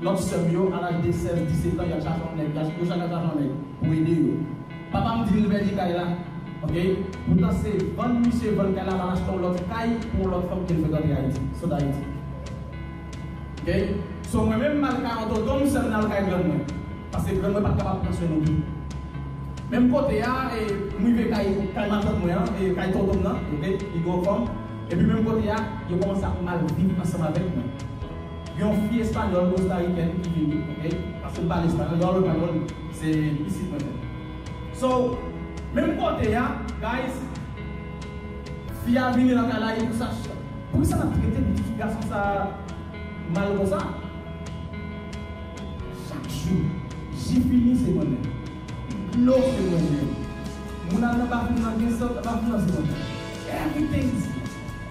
Lòt sè m yo, a laj de 16, 17 an, y ap chache yon nèg, yo chaka chache yon nèg pou ede yo. Papa m di l vèni kay la, ok. Poutan se vann misye vann kay la pou al achte yon lòt kay pou yon lòt fanm ke l frekante Ayiti, sot Ayiti. Ok. So mwen menm m al kay yon tonton m, sè m nan al kay grann mwen. Paske grann mwen pa t kapab pran swen nou tou. Menm kote a, e m rive kay kay matant mwen an, e kay tonton m nan, ok, li gen yon fanm. Epi menm kote a, yo kòmanse ap mal viv ansanm avèk mwen. Yon fi espagnol kostariken ki vini ok paskem pale espagnol yolo panyol se pisit mwen menm so menm kote ya guys fi a vini lakay la e pousa poukisa nap trete pitit fi gason sa mal konsa chak jou ji fini se mwen menm dlo se mwen menm moun al nan bathroom nan gen sèl nan bathroom nan se mwen menm everything is me.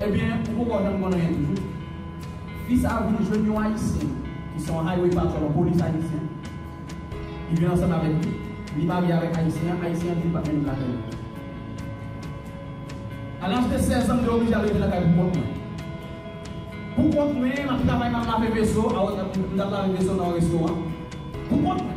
Ebyen ou poko janm konn anyen toujou. Fi sa vin jwenn yon ayisyen ki se yon highway patrol, yon polis ayisyen. Li vin ansanm avèk li, li marye avèk ayisyen an, ayisyen an di li pap mennen l lakay li. A laj de 16 an m te oblije al rete lakay pou kont mwen. Pou kont mwen, m ap travay m ap lave veso, m tap lave veso nan yon restoran pou kont mwen.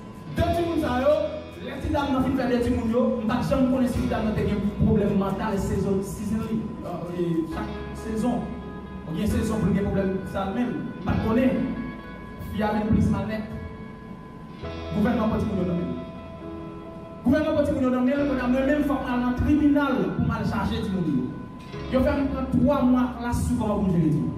De timoun sa yo, lè ti dam nan fin fè de timoun yo, m pat janm konnen si ti dam nan te gen pwoblèm mantal sezon season li chak sezon ou gen sezon pou li gen pwoblèm sa l menm m pat konnen fi a menm plis mal nèt gouvènman pran timoun yo nan men gouvènman pran timoun yo nan men kounye a mwen menm fòk m al nan tribinal pou m al chaje timoun yo yo fè m pran 3 mwa klas sou kòman pou m jere timoun.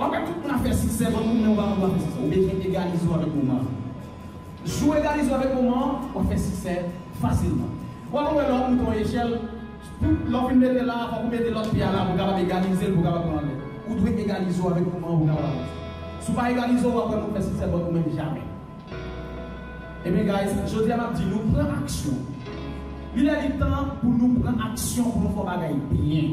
Wap wè tout moun ap fè siksè bann moun men ou pa konn wap fè siksè ou bezwen egalize ou avèk moman an jou ou egalize ou avèk moman an wap fè siksè fasilman wap konn wè lè wap moute yon echèl pou lè ou fin mete la fòk ou mete lòt pye a la pou kapab egalize l pou kapab pran anlè ou dwe egalize ou avèk moman an pou kapab avanse si ou pa egalize ou wap wè moun fè siksè bann moun men jamè ebyen guys jodi a map di nou pran aksyon li lè li tan pou nou pran aksyon pou nou fè yon bagay byen.